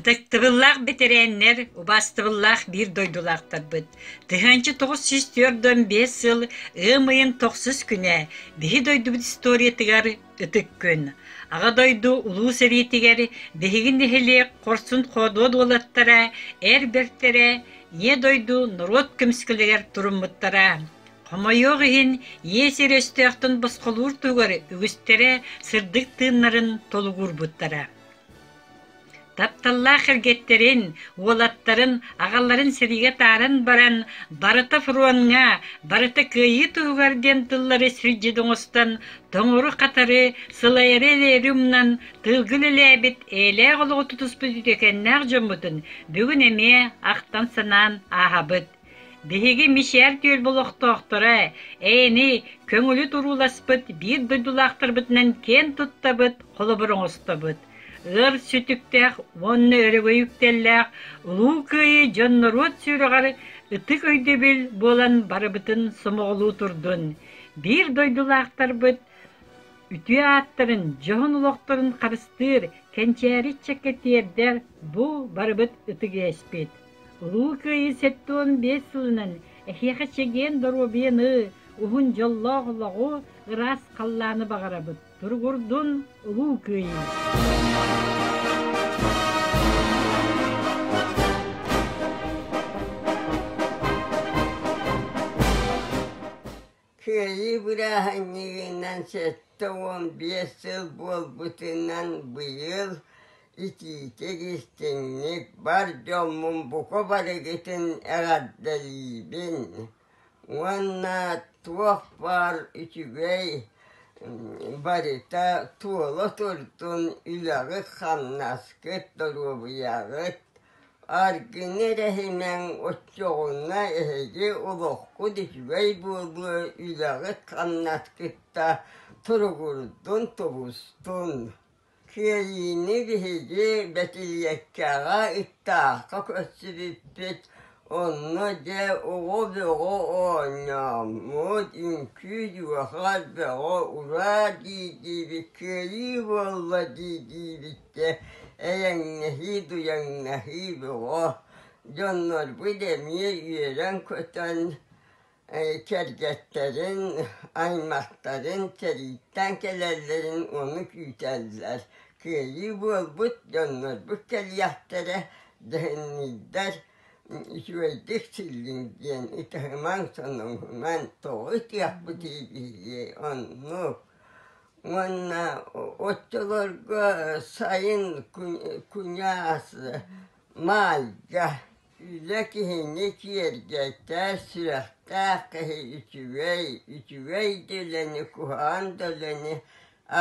Ытыктыбыллаах бэтэрээннэр, убаастыбыллаах биир дойдулаахтарбыт! Тыһыынча тоҕус сүүс түөрт уон биэс сыл ыам ыйын тохсус күнэ биһи дойдубут историятыгар Ытык күн. Аҕа дойду Улуу сэриитигэр биһиги нэһилиэк хорсун-хоодуот уолаттара, эр бэртэрэ, Ийэ дойду норуот көмүскэлигэр туруммуттара. Хомойуох иһин, ийэ сир өстөөхтүн босхолуур туһугар үгүстэрэ сырдык тыыннарын толугурбуттара. Тапталлаах эргэттэрин, уолаттарын, аҕаларын сэриигэ тааран баран, барыта фроҥҥа, барыта кыайыы туһугар диэн тыллары сирдьит оҥостон, тоҥору-хатары, сылайары эрээри умнан, тылгы үлэлээбит эйэлээх олоҕу тутуспут үтүөкэннээх дьоммутун бүгүн эмиэ ахтан-санаан ааһабыт. Биһиги Мичээр түөл олохтоохторо эйэни көҥүлү турууласпыт биир дойдулаахтарбытынан киэн туттабыт, холобур оҥостобут, өр сүтүктээх уонна өрөгөй үктэллээх Улуу Кыайыы дьон-норуот сүрэҕэр ытык өйдөбүл буолан барыбытын сомоҕолуу турдун, биир дойдулаахтарбыт үтүө ааттарын, дьоһун олохторун харыстыыр, кэнчээри ыччакка тиэрдэр бу барыбыт ытык иэспит. Улуу Кыайыы сэттэ уон биэс сылынан эһиэхэ чэгиэн доруобуйаны, уһун дьоллоох олоҕу, ыраас халлааны баҕарабыт. Туругурдун Улуу Кыайыы! Кыайыы бырааһынньыгынан сэттэ уон биэс сыл буолбутунан быйыл итиитик истиҥник бар дьоммун бука барыгытын эҕэрдэлиибин уонна туох баар үчүгэй барыта туола турдун үлэҕит-хамнаскыт доруобуйаҕыт Аргыҥ эрэһинэҥ оччоҕуна эһиги олоххут үчүгэй буолуо үлэҕит-хамнаскытта туругурдун, тубустун. Кыайыыны биһиги Бэтилиэккэҕэ, Ыктаахха көрсүбүппүт. Онно дьэ оҕо бөҕө оонньооммут, үҥкүү дьуоха, бөҕө ураа дии диибит, кыайыы буолла дии диибит Дьэ, эйэҥҥэһии-дуйаҥнаһыы бөҕө, дьоннорбут эмиэ үөрэн-көтөн, кэргэттэрин, аймахтарын сэрииттэн кэлэллэрин ону күүтэллэр. Кыайыы буолбут дьоннорбут кэлиэхтэрэ, дэһинниирдэр, үчүгэйдик силлиҥ диэн ытыһымаҥ-соноһумаҥ тоҕо ытыахпытый биһиги оннук Уонна оччолорго сайын куньаас Маайга үлэ киһини киэргэтэр, сүрэхтээх киһи үчүгэй, үчүгэй да үлэни, куһаҕан да үлэни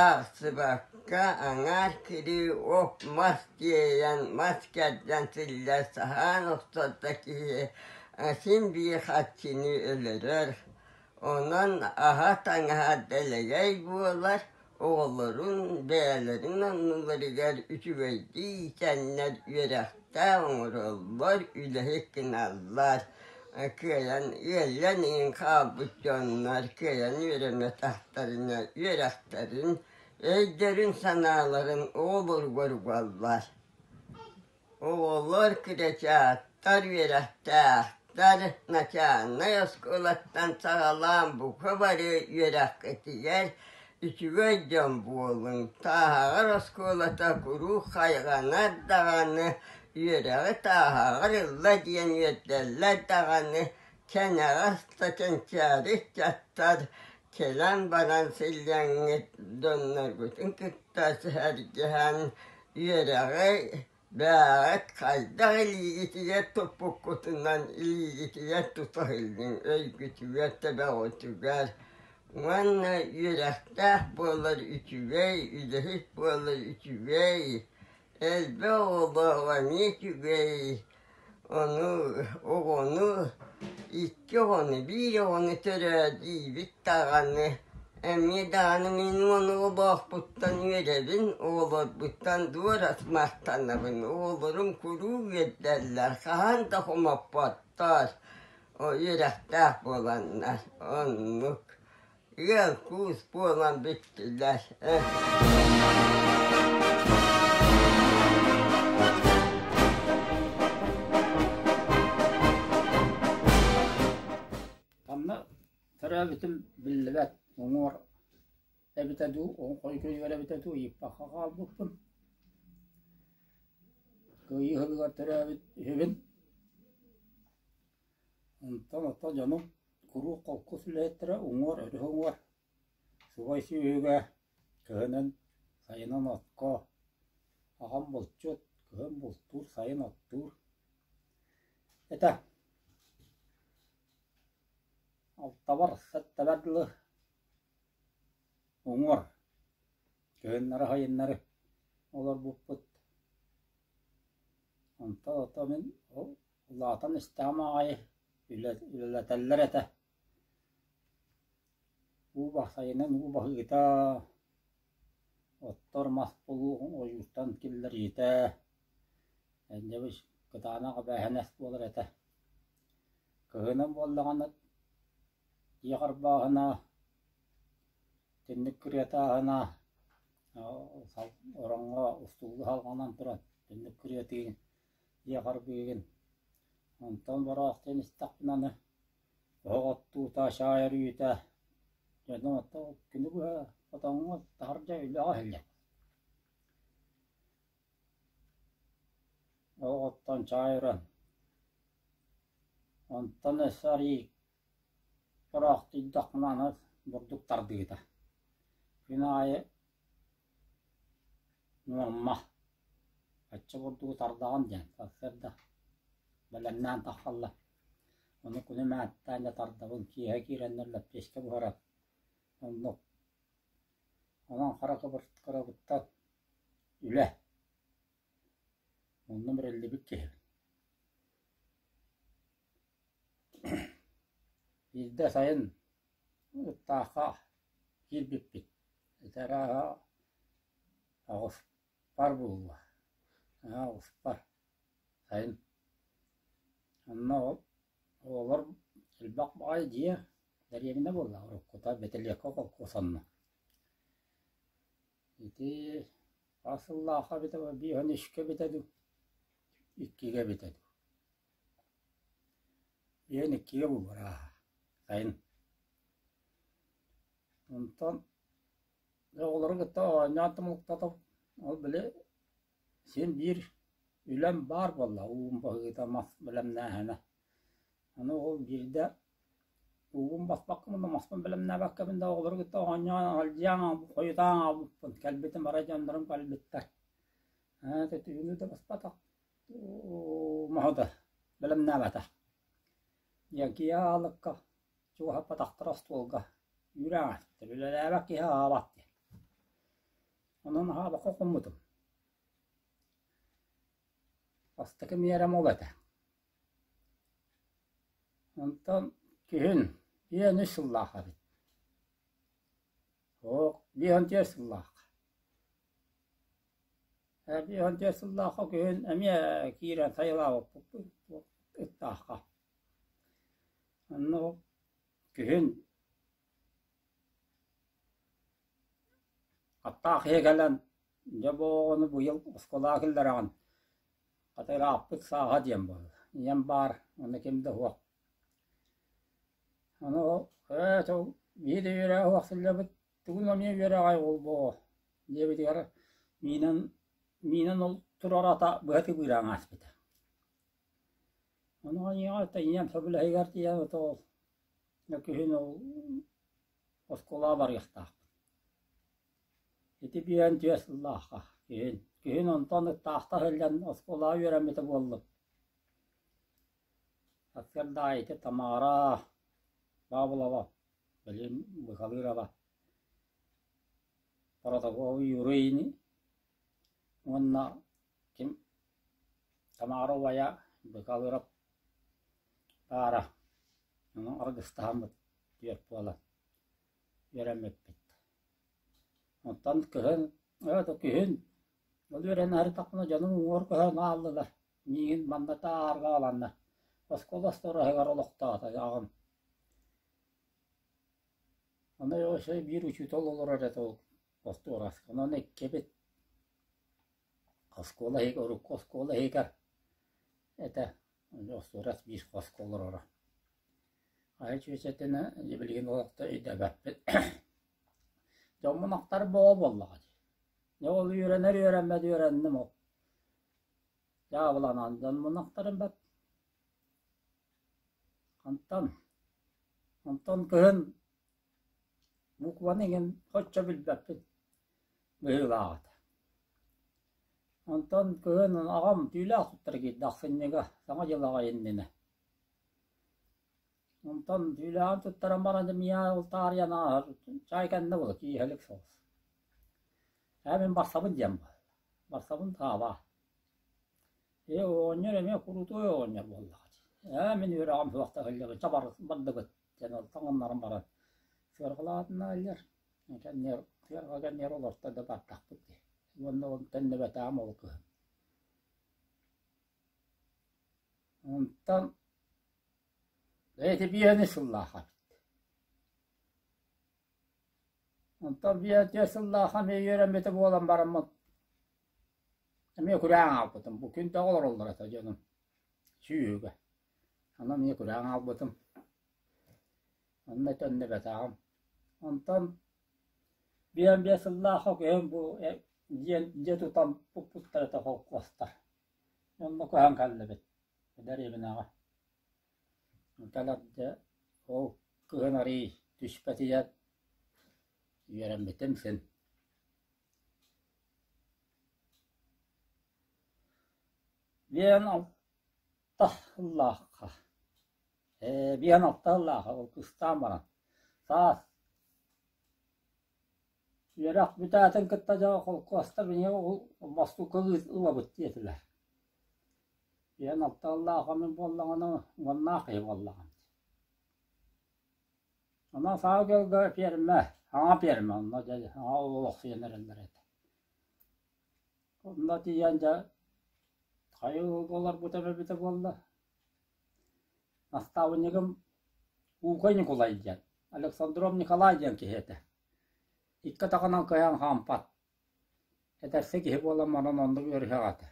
аахсыбакка аҥаар кирии ох-мас тиэйэн, мас кэрдэн силлэр, саһаан охсор да киһи син биир харчыны өлөрөр. Онон аһа таҥаһа дэлэгэй буолар, оҕолорун бэйэлэрин анныларыгар үчүгэйдик иитэннэр үөрэхтээх оҥороллор, үлэһит гыналлар, кыайан ыалльан иһин хаалбыт дьоннор кыайан үөрэммэтэхтэринэ үөрэхтэрин, өйдөрүн-санааларын оҕолоругар угаллар. Оҕолор кырачааттар үөрэхтээхтэр, начальнай оскуолаттан саҕалаан бука бары үөрэххитигэр үчүгэй дьон буолуҥ, тааһаҕар оскуолата куруук хайҕанар даҕаны, үөрэҕи тааһаҕар ылла диэн үөрдэллэр даҕаны, кэнэҕэс да кэнчээри ыччаттар кэлэн баран силлэҥҥит дьонноргутун кытта сэһэргэһэн Үөрэҕэй, Бээрэк хайдах илиигитигэр туппуккутунан илиигитигэр тута иһиллиҥ өйгүтүгэр тэбэҕитугар уонна үөрэхтээх буолар үчүгэй, үлэһит буолар үчүгэй, элбэх оҕолоох эмиэ үчүгэй Ону, оҕону, икки оҕону, биир оҕону төрөөдүүбүт даҕаны, эмиэ даҕаны мин монолобоохпуттан үөрэбин, оҕолорбуттан дуорас махтанабын. Оҕолорум куруук үөрдэллэр, хаһан да хомоппоттор, үөрэхтээх буоланнар, оннук. Ыал куус буолан бүттүлэр ээ Манна төрөөбүтүм биллибэт уҥуор эбитэ дуу, оҕо хойгуйугар эбитэ дуу ыйыппакка хаалбыппын. Кыайыы ыһыгар төрөөбүт үһүбүн. Онтон ото дьонум куруук холкус үлэһиттэрэ уҥуор өрүһү уҥуор, субай сүөһүгэ, кыһынын сайынын отко, аҕам булчут, кыһын бултуур, сайын оттуур этэ. Алтабар сэттэбэр дылы уҥуор, кыһыннары сайыннары олорбуппут. Онтон ото мин ол Улаатан истэҕим аҕай үлэлэтэллэр этэ уу бастайынан уу баһыыта, оттор мас булуоҕуҥ ойууртан киллэриитэ, дэбис кытаанах эбээһинэс буолар этэ. Кыһынын буоллаҕына дьиэ харбааһына, итинник кырыатааһына, ороҥҥо устуулуу салҕанан туран итинник кырыатыы иэҕэргиигин, онтон бороох диэн истэхпинэ аны оһох оттуута, чаай өрүйүүтэ, дьону оттуу кини быһа хотоҥҥо таһырдьа үлэҕэ иһиллэ. Оһох оттон чаай өрөн, онтон өссө арыый бороох тиийдэхпинэ аны бурдук тардыыта. Күн аайы Нуомма, оччо курдук утардаҕын диэн сарсыарда бэлэмнээн тахсаллар. Ону кuni мээттээн дьэ тардабын, киэһэ киирэн лэппиэскэ буһаран, оннук. Онон хара кыбыртыкырабыттан үлэ. Онно бэриллибит киһибин. Биирдэ сайын Таха киирбиппит, этэрааһа аҕыспар буолла, наһаа аҕыспар, сайын. Онно оҕолор элбэх баҕайы дьиэ, дэриэбинэ буолла, уруккута Бэтэлиэккэ холкуос онно. Ити хас сыллаахха эбитэ бу, биэһинэшкэ эбитэ дуу, иккигэ эбитэ дуу. Ийэм иккигэ булбарааһа, сайын. Онтон оҕолорун кытта оонньоон tumулктатабыт. Ол били син биир үлэм баар буолла, уум баһыыта мас бэлэмнээһинэ. Аны ол биирдэ уугум баспакка мунна маспын бэлэмнээбэккэбин да оҕолору кытта оонньоон алдьаан аҕалбыппын, хойутаан аҕалбыппын. Кэлбитим арай дьоннорум кэлбиттэр. Ээ, ити түүнү да баспатах. моһото бэлэмнээбэтэ. Диэн киһи аалыкка чугаһаппатахтара остуолга үүрэ аҥастар, үлэлээбэт киһи аҕалбат диэн. Онон аҕабакка хоммутум. Бастакы миэрэм ол этэ. Онтон күһүн биэс үс сыллаах эбит. Оһох биэс сыллаах. Эрдэ ыһылдьар сыллаахха күһүн эмиэ киирэн сайылаабыппыт ыттаахха. Онно күһүн аттаах иһэ кэлэн дьэ бу оҕону быйыл оскуолаҕа киллэрэҕин, хата ырааппыт сааһа диэн буолла, ийэм баар, уонна ким да суох. Ону эт ол биир да үөрэ суох сылдьабыт Тугун эмиэ үөрэҕэй уол буолуо, диэбитигэр Миинэн Миинэн ол туруората быһа-тыбыыраан ааспыта Ону айыаҕа тэнийэн сөбүлэһигэр тиийэн ото ол Өкүһүн ол оскуолаҕа барыахтаахпын Ити биээн түөрт сыллаахха күһүн Күһүн онтон ыттаахта сылдьан оскуолаҕа үөрэммитэ буоллум Аттыгар да ити Тамара Баабылаба Билим Быһалыырова Боротокову Юру Ини уонна ким Тамара убайа Быһалыырап баара ону аргыстаһаммыт түөрт буолан үөрэммиппит. Оттон кыһын өөтө күһүн ол үөрэнэхтахпына дьонум уҥуор көһөн ааллылар. Миигин манна таарҕааланна. Оскуола остуораһыгар олохтоото аҕам. Аны Леша биир учуутал олорор этэ ол остуорасканан эккибит. Оскуола иһигэр, урукку оскуола иһигэр этэ. Остуорас биир хоско олороро. Айа чүөчэтинэ билигин олохто өйдөбөппүт. Дьоммунахтар боо буоллаҕа дии. Дьэ ол үөрэнэр үөрэммэт үөрэнним ол. Дьаабыланан дьонмунахтарым бат. Хантан, онтон кыһын букваны иҥин хоччо билбэппин быһыылааҕыта Онтон кыһын аҕам түүлээх туттара киирдэ ахсынньыга Саҥа дьыл аҕай иннинэ Онтон түүлээҕин туттаран баран миэхэ утаарыйан ааһар чаай кэннэ була кииһэлик соҕус Ээ мин барсабын диэн буолла барсабын таабаа Ээ, оҕонньор эмиэ курутуой оҕонньор буоллаҕа дии. Ээ, мин үөрэҕим суохтаах иллэҕи бардыбыт диэн ол таҥыннаран баран сыарҕалаатына иһэллэр. Кэннигэр сыарҕа кэннигэр олорто да бардахпыт дии. Уонна ол тэннэбэтэҕим ол кыһын. Онтон эти биэһинэ сыллааха эбит. Онтон биэһинэ сыллааха мин үөрэммитэ буолан бараммын Эмиэ күрэҕи аҕалбытым, бу күн да олороллор этэ дьонум, сүүһүгэ. Онон эмиэ күрэҕи аҕалбытым. Онно төннүбэтэҕим. Онтон биэс-биэс сыллаах үһүм бу дьиэ, дьиэ тутан пуппуттар этэ холкуостар. Онно көһөн кэллибит дэриэбинэҕэ. Кэлэрдэ ол кыһын арыый түспэтийэн үөрэммитим син. Биээн алта ыллаахха, ээ биээн алта ыллаахха, ол кыстаан баран, саас үөрэх бүтээтин кытта дьэ холкуоста биһиги мостукка ылабыт диэтилэр. Биээн алта ыллаахха мин буоллаҕына уоннаах киһи буоллаҕым Онон саҥа дьылга пиэрмэ, аҥа пиэрмэ онно дьэ аҥа олохсуйан эрэллэр этэ. Онно тиийэн дьэ хайы олорбут эбэ эбитэ буолла, наставнигым Уукай Ньукулай диэн, Александров Николай диэн киһи этэ. Икки атаҕынан кыайан хаампат, эдэрси киһи буолан манан оннук ыарыһах этэ.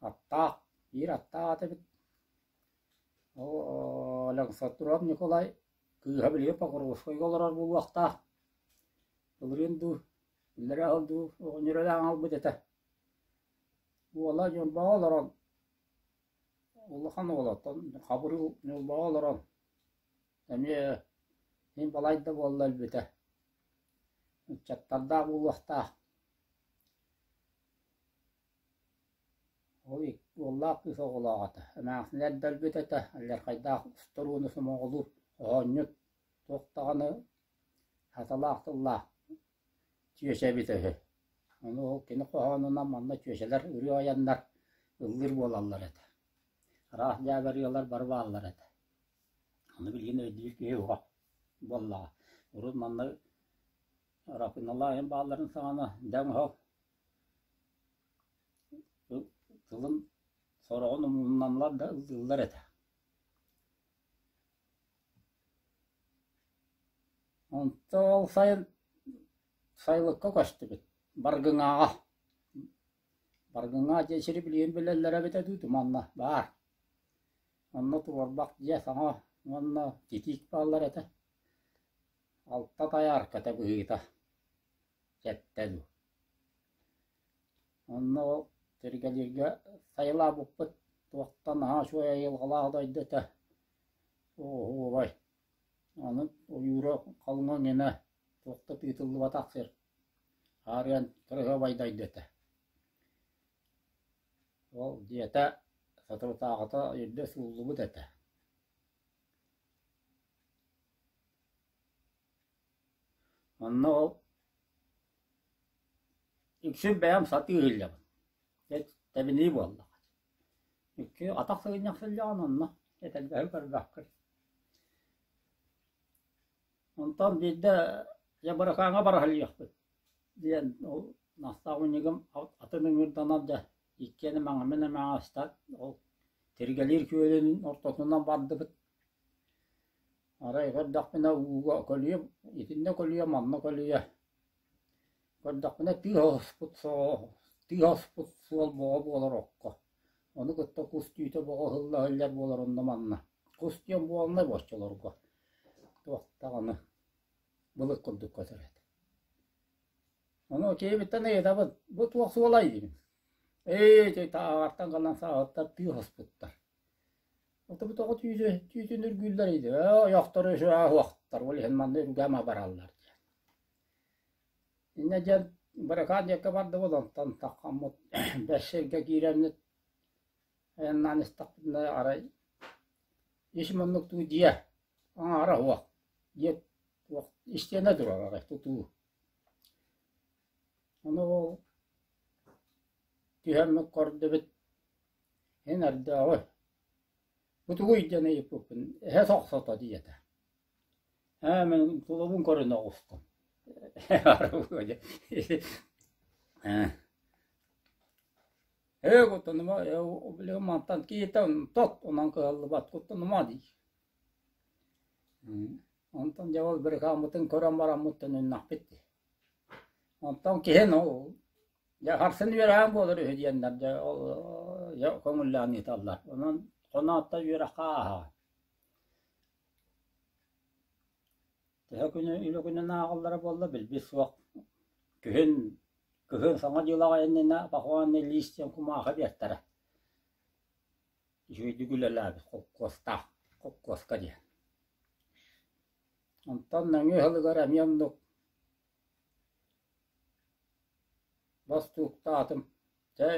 Аттаах, биир аттаах эт эбит. Оо, Александр Николай кыыһа билигин Покровскайга олорор буолуохтаах, былырыын дуу, биллэр аҕал дуу оҕонньорүлээн аҕалбыт этэ. Уола Ньурбаҕа олорон, улахан уолаттан Хабырыыл Ньурбаҕа олорон, эмиэ мин балайда буолла өлбүтэ. Ыччаттардаах буолуохтаах. Ол уоллаах кыыс оҕолоох этэ, эмээхсини эрдэрбит этэ, алдьархайдаах устурууну сомоҕолуу, хоһоонньут, туох даҕаны хатылаах тыллаах чүөчэ эбитэ үһү. Ону ол кини хоһоонунан манна чүөчэлэр ырыа айаннар, ыллыыр буолаллар этэ. Араас дьээбэ ырыалар бары бааллар этэ. Ону билигин өйдүүр киһи суох буоллаҕа. Урут манна Арапыыналаайын баалларын саҕана дэҥ оһол тылын сороҕун умунналлар да ыллыыллар этэ Онтон ол сайын сайылыкка көстүбүт Баргыҥаҕа. Баргыҥаҕа дьиэ сири билигин билэллэрэ эбитэ дуу манна баар. Онно туорбах дьиэ саҥа уонна титиик бааллар этэ. Алта тайаарката быһыыта Сэттэ дуу Онно ол сиргэлииргэ сайылаабыппыт туохтан наһаа үчүгэй айылҕалаах дойду этэ оһуобай аны ойуура халыҥа эҥинэ туох да тыытыллыбатах сир хаарыан кыраһыабай дойду этэ ол дьиэтэ соторутааҕыта өйөрдө сууллубут этэ Онно ол иксин бэйэм сатыы иһиллэбин, дьэ тэбинии буоллаҕа. Икки атах сыгынньахсыллаҕын онно, этэрбэһи көрбөккүн. Онтон биирдэ «Дьэ Быракааҥҥа бараһылыйыахпыт» диэн ол Настаа мунньугум атын ыҥыырданар дьэ иккиэн эмэҕимин эмэҕэстэн ол Тиргэлиир күөлүн ортотунан бардыбыт. Арай көрдөхпүнэ ууга көлүйэ, итиннэ көлүйэ, манна көлүйэ. Көрдөхпүнэ тыа оспут суол, тыа оспут суол бөҕө буолар окко. Ону кытта кус түүтэ бөҕө ыһылла иһиллэр буолар онно-манна. Кус диэн буолнай бу оччолорго. Туох даҕаны былыт курдук көтүрэт. Ону киэбиттэн ыйытабын, бу туох суолай диибин. Ээ, чэй таһаҕартан гынан сааһыттар тыа оспуттар. Ытыбыт оҕо түүтүн түүтүн үргүүллэр иди «Оо ойохтору үсү ааһыахтар, ол иһин манна үргээмэ бараллар» диэн. Иннэ диэн быракаан диэккэ барда буолан тантаххаммыт бэс сиргэ кииреммит айаннаан истэхпинэ арай ис муннук дуу дьиэ аҥаара уох диэт уох истиэнэ турар арай тутуу. Ону ол түһэммит көрдүбүт Эн ардааҕы бу тугуй диэн ыйыппыппын «Эһэ сохсото» диэтэ «Ээ, мин тулубун көрөн оҕустум» «Ээ, куттаныма, билигин мантан киһитэ тот унан кыһаллыбат куттанама» дии Онтон дьабал бырыкааммытын көрөн бараммыттан ыннахпыт дии Онтон киһи ну Дьэ харсын үөрэҕин буолар үһү диэннэр дьэ ол дьэ көҥүллээн ыыталлар. Онон хоноотто үөрэххэ ааһаа. Төһө күнү үлэ күнүн ааҕаллара буолла билбит суох. Күһүн кыһын саҥа дьыал аҕайыннына похоонно лиис диэн кумаахы биэртэрэ. Үчүгэйдик үлэлээбит холкуостаах, холкуоска диэн. Онтон нөҥүө сылыгар эмиэ оннук Бостууктаатым чэ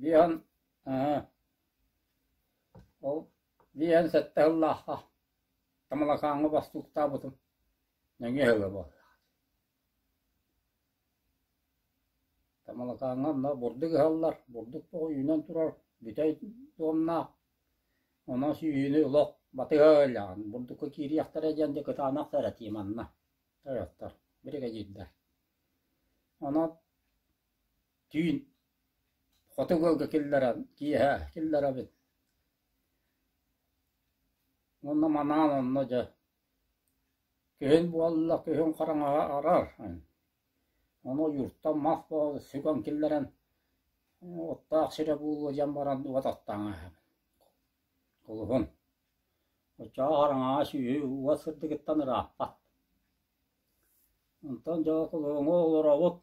виһан аа ол виһэн сэттэ сыллаахха Тамалакааҥҥа бостууктаабытым нөҥүө сылы буолла Тамалакааҥҥа онно бурдук ыһаллар бурдук тоҕу үүнэн турар бүтэй дуомнаах Ону сүүһүнү олох батыһа ыалдьаҕын, бурдукка киириэхтэрэ диэн дьэ кытаанах да эрэ тиийэ манна ойоттор, биригэдьиирдэ. Онон түүн хоту ыалга киллэрэн, киэһэ киллэрэбин. Уонна манаан онно дьэ күһүн буолла, күһүн хараҥаҕа арар. Ону Юртан мас буолан сүгэн киллэрэн уоттаах сирэ буолуо диэн баран уот аттаан иһэбин Кулуһун Оччоҕо хараҥаҕа сүөһү уот сырдыгыттан ырааппат Онтон дьэ кулуһуҥҥа олоробут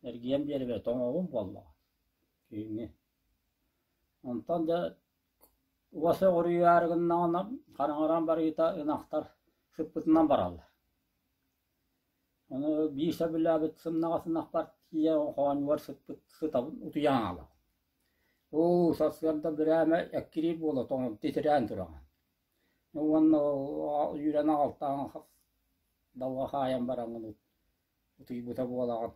эргийэн биэрбэт оҥоһугум буоллаҕа киһини Онтон дьэ уот сөҕүрүйээри гыннаҕына хараҥаран барыыта ынахтар сыппытынан бараллар Аны биир сөбүлээбит сымнаҕас ынахпар тиийэ хоонньугар сыппыт сытабын утуйан аҕалабын. «Оо, сарсыарда бирээмэ эккирии буола тоҥон титирээн тураҕын» уонна үүрэн аҕалтаан далга хаайан бараҥҥын утуйбута буолаҕын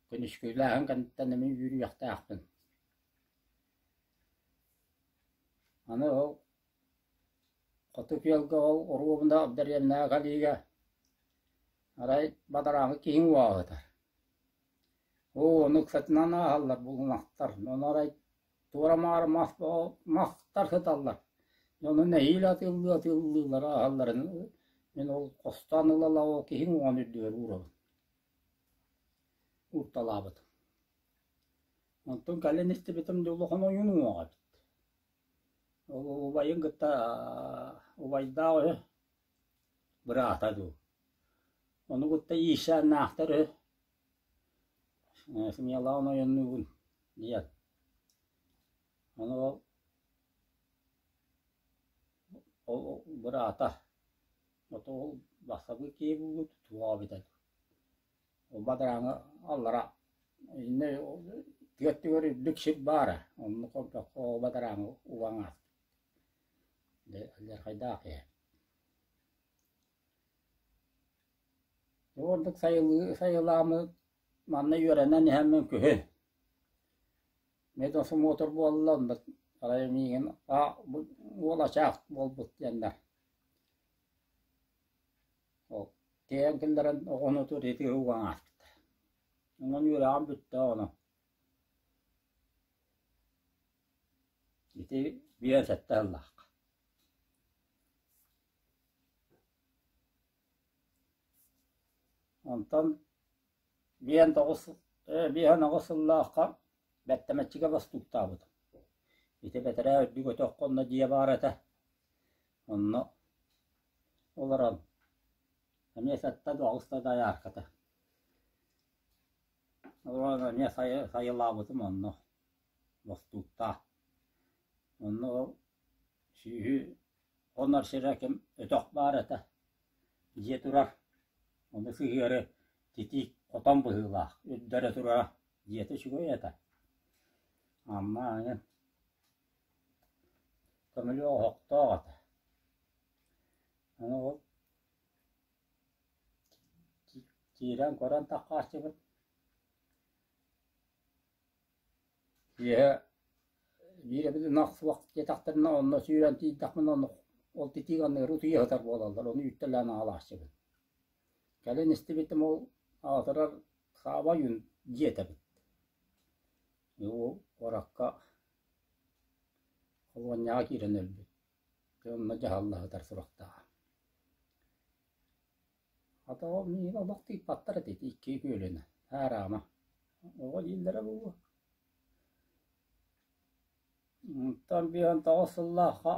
күнүскүлээһин кэнниттэн эмиэ үөрүйэхтээхпин аны Хоту күөлгэ ол оруобуна дэриэбинэҕэ кэлиигэ арай бадарааҥҥа киһиҥ уоһатар. Оо, ону ыксатынан ааһаллар булумахтар, ону арай туора-маары мас мастар сыталлар, ону нэһиилэ атыыллыы-атыыллыыллар ааһалларын мин ол хостоон ыла-ыла ол киһиҥ уоҕун үрдүгэр уурабын, уурталаабытым. Онтун кэлин истибитим дьэ улахан ойуун уоҕа эбит Убайын кытта убайдаах үһү, быраата дуу, ону кытта иирсээннээхтэр үһү. Семьялаан ойоннуубун диэн. Ону ол быраата, ото ол бастакы киһи буолбут, туоҕа эбитэ дуу Уба дырааҥы аллара иннэ тыа өттүгэр үрдүк сир баара, оннук олбоххо уба дырааҥы убаҥ аат алдьархайдаах ээ Бу ордук сайылыы сайылааммыт манна үөрэнэн иһэммин күһүн медосмотр буолла онно арай миигин а бу уолачаах буолбут диэннэр Ол тиэйэн киллэрэн оҕону утуйар итии уган ааспыта. Онон үөрэҕим бүттэ оҕону. Ити биир сэттэ сыллаахха. Онтон биэн тоҕус э, биэһэ-тоҕус сыллаахха бэттэмэччигэ бастууктаабытым. Ити бэтэрээ үрдүк өтөх онно дьиэ баар этэ. Онно олорон эмиэ сэттэ да аҕыс да дайаарката олорон эмиэ сайылаабытым онно бостууктаах онно сүүһү хонор сирэ ким өтөх баар этэ дьиэ турар ону сыһыары титиик хотон быһыылаах үрдэрэ турара дьиэтэ үчүгэй этэ амма Көмүлүөк оһохтоох этэ, аны ол киирэн көрөн таххааччыбыт, киэһэ биир эбит ынах суох диэтэхтэринэ онно сүүрэн тиийдэхпинэ онно ол титииганныыры утуйа сытар буолаллар, ону үүттэлээн аҕалааччыбын. Кэлин истибитим ол аатырар Саабай дьиэтэ эбит Уу уоракка холуонньаҕа киирэн өлбүт, дьэ онно дьаһалла сытар сурахтааҕа. Хата ол миигин олох тыыппаттар этэ ити икки күөлүнэ, аараама, оҕо дииллэрэ буолуо. Онтон биһиэхэ тоҕус сыллаахха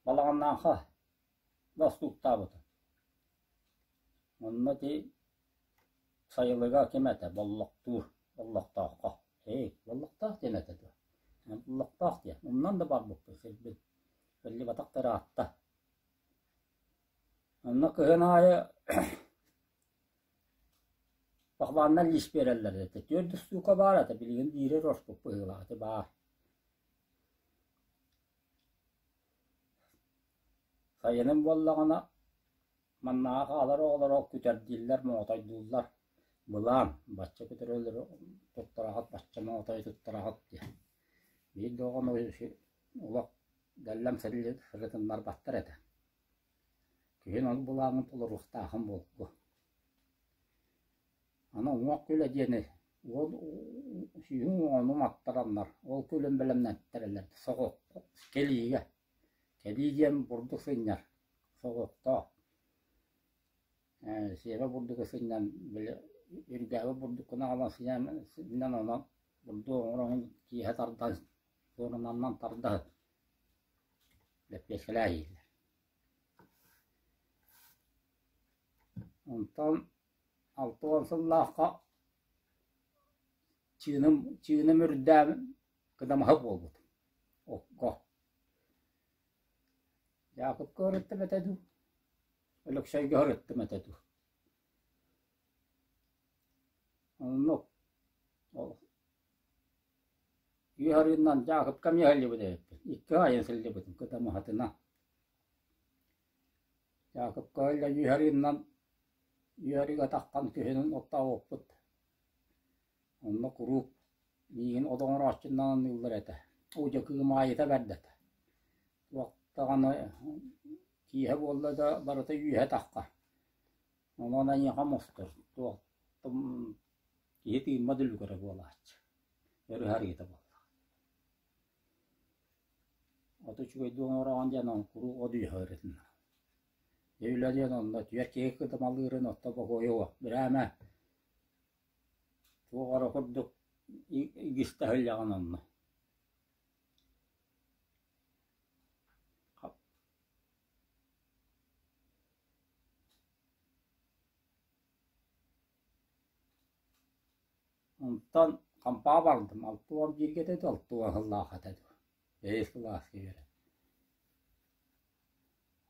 балаҕаннаахха Бостууктаабыта. Онно ити сайылыга ким этэ Боллохтуур, Боллохтооххо. Эй, Боллохтоох диэн этэ дуо? Боллохтоох диэн. Умнан да барбыппыт сирбин. Биллибатахтар аатта. Онно кыһын аайы похваннар лиис биэрэллэр этэ. Түөрт устуука баар этэ, билигин биирэр орпут быһыылаах этэ баар. Сайыным буоллаҕына, маннаҕа хаалар оҕолоро күтэрдииллэр, моотордууллар: «Былаан, бачча күтэрэллэри туттараҕыт, бачча моотойу туттараҕыт» диэн. Биир да оҕону олох гэллэм сырытыннарбаттар этэ. Киһин ол былааҥҥын толоруохтаахын буолуо Аны уҥуох күлэ диэни уол сүүһүн уону маттараннар, ол күлүн бэлэмнэттэрэлэр кэлиигэ, кэлии диэн бурдук сынньар соҕотох. Ээ, сиэбэ бурдугу сынньан били үргээбит бурдуккун аҕалан сынньан онон бурдук оҥороҥун киэһэ тардан суорунаннан тардаһыт лэппиэскэлээһиилэр. Онтон Алта уон сыллаахха чыыным, чыыным үрдээбин, кыдамаһы буолбутум окко. Якутка ырыттым этэ дуу, Өлөксөйгө ырыттым этэ дуу. Онно ол үс арыынан Якутка эмиэ сылдьыбыт эбиппин, икки айан сылдьыбытым кыдамаһытынан. Якупка ылла Юйһариннан Юйһариг атаххан киһинэн оттообуппут Онно куруук миигин от оҥорооччунан аныыллар этэ Оо дьэ кыым аайыта бэрдэтэ Туох даҕаны киэһэ буолла да барыта үөһэ атахха Онон эйиэхэ мустар туохтум киһи тыыммат үлүгэрэ буолааччы Өр ыһарыыта буолла Оту үчүгэйдик оҥороҕун диэн ол куруук от үөһэ ырытынна. Дьэ үлэ диэн онно түөрт киһи кытымалыырын оттон бокуойуо брээмэ туох эрэ курдук игис таһылльаҕын онно. Онтон хампаа бардым, алта уон бииргэ да алта уон сыллаах этэ дуу, бэһис кылааска үөрэн.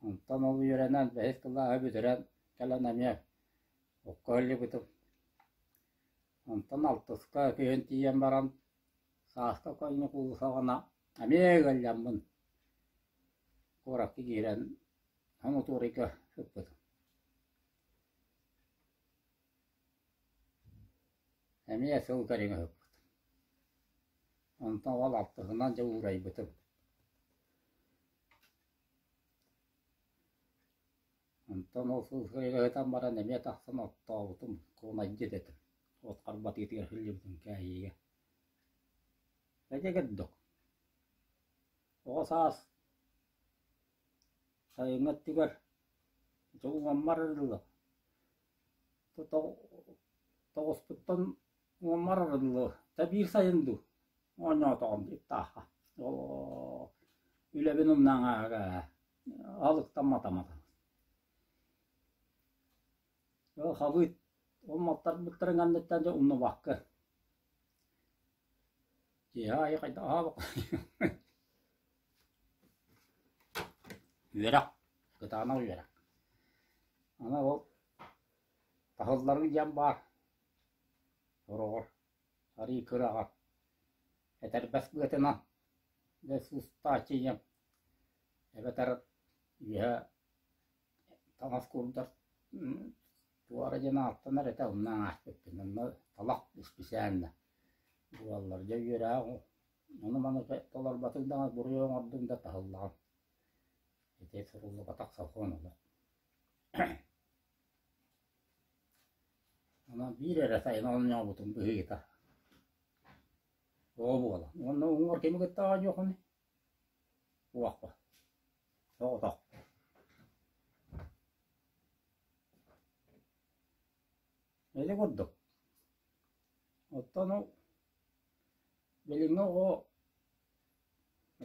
Онтон ол үөрэнэн бэһис кылааһы бүтэрэн кэлэн эмиэ окко иһиллибитим. Онтон алтыска күһүн тиийэн баран сааска көннө куулусаҕына эмиэ ыалдьаммын куоракка киирэн хомутуурайга сыппытым. Эмиэ сыл көрүҥ аһыппытым. Онтон ол алтыһынан дьэ уурайбытым. Онтон ол сыл ыһытан баран эмиэ тахсан оттообутум, куонайдьыт этим. От харбатыытыгар сылдьыбытым кээһиигэ. Эдьэ кырдык, оҕо саас сайыҥҥы өттүгэр дьулҕаммар арылла тоҕуспуттан умарарын дылы да биир сайын дуу оонньоотоҕум диэттааха оо үлэбин умнан ааҕа алыктамматаматым халыып омуктарбыттарын анныттан дьэ умнубакка Киэһэ аайы хайдах аһаабыт Үөрэх, кытаанах үөрэх. Аны ол таһылларын диэн баар. Сороҕор арыы кыраҕа, этэрбэс быатынан да сыстааччы диэн эбэтэр үөһэ таҥас курдат туора диэн ааттанар этэ онно ааспыппын онно талах исписээн да буоллар дьэ үөрээҕим ону-маны толорботуҥ даҕаны буруйу оҥордуҥ да таһыллаҕым ити суруллубатах сокуон олох онон биир эрэ сайын оонньообутум быһыыта ол буолан уонна уҥуор кими кыттаҕа дьуохунуй Уохха, соҕотох Ити курдук. Оттон ол билиҥҥи оҕо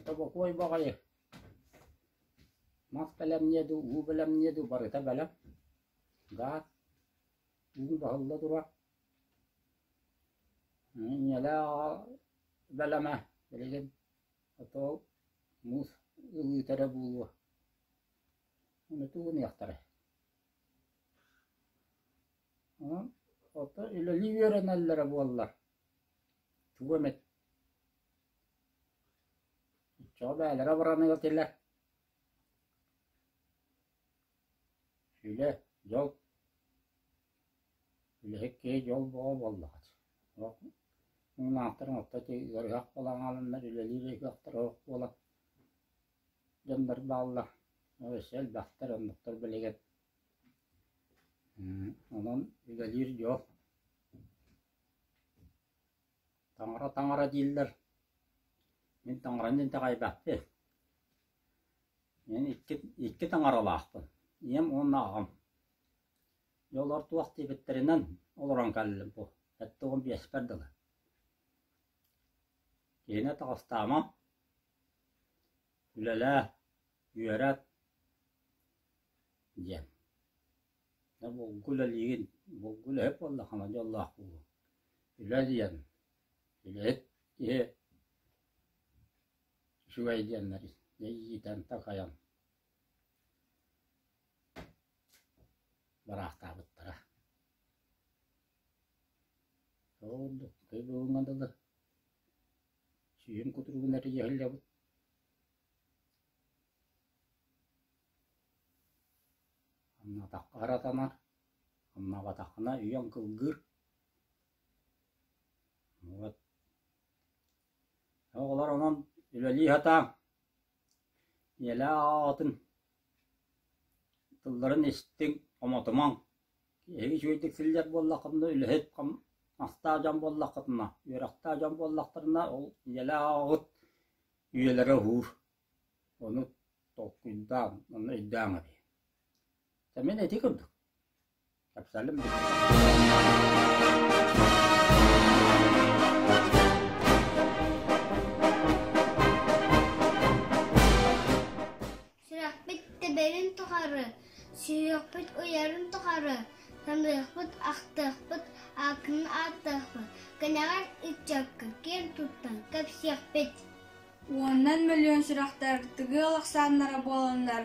тобокуой баҕайы мас бэлэмниэ дуу, уу бэлэмниэ дуу барыта бэлэм, гаас, уу баһылла турар. Инньэлээх аҕа бэлэмэ билигин А то муус ылыыта эрэ буолуо, ону тугу гыныахтарай аа ото үлэлии үөрэнэллэрэ буоллар тугу эмит оччоҕо бэйэлэрэ оборону этилэр сүлэ дьол Үлэһит киһи дьол бөҕө буоллаҕыт, сорох муҥнаахтарын отто итии ыарыһах буолан хааланнар үлэлиир ыһыахтара суох буолан дьоннор бааллар, өссө элбэхтэр, оннуктар билигин онон үлэлиир дьол таҥара-таҥара дииллэр, мин таҥараны итэҕэйбэппин. Мин икки, икки таҥаралаахпын, ийэм уонна аҕам. Дьоллор туох диэбиттэринэн, олорон кэллим бу, сэттэ уон биэспэр дылы Киһини таҕыстаама, үлэлээ, үөрэт диэн. Булгу үлэлиигин, булгу үлэһит буолла хама дьоллоох буолуҥ. Үлэ диэн, үлэһит киһи үчүгэй диэннэри, дьэ иитэн, такайан Бараахтаабыттара. Ол ордук кый бүгүҥҥэ дылы сүүһүн кутуругун эрийэ иһиллэбит Аннаатахха аратанар, аннаабатаххына үйэҥ кылгыыр. Вот Оҕолор онон үлэлии сатааҥ, ийэлээх аҕаҕытын тылларын истиҥ, хомотумаҥ. Киһиги үчүгэйдик силлэр буоллаххытына, үлэһит, мастаах дьон буоллаххытына, үөрэхтээх дьон буоллахтарына, ол ийэлээх аҕаҕыт үйэлэрэ уһуур. Ону толкуйдааҥ, ону өйдөөҥ эбии. Мин ити курдук Сүрэхпит тэбэрин тухары, сүһүөхпүт уйарын тухары, таныахпыт, ахтыахпыт, ааккын ааттыахпыт, кэнэҕэр ыччакка киэн туттан кэпсиэхпит. Уоннан мөлүйүөн сүрэхтэр тыгыал ахсааннара буоланнар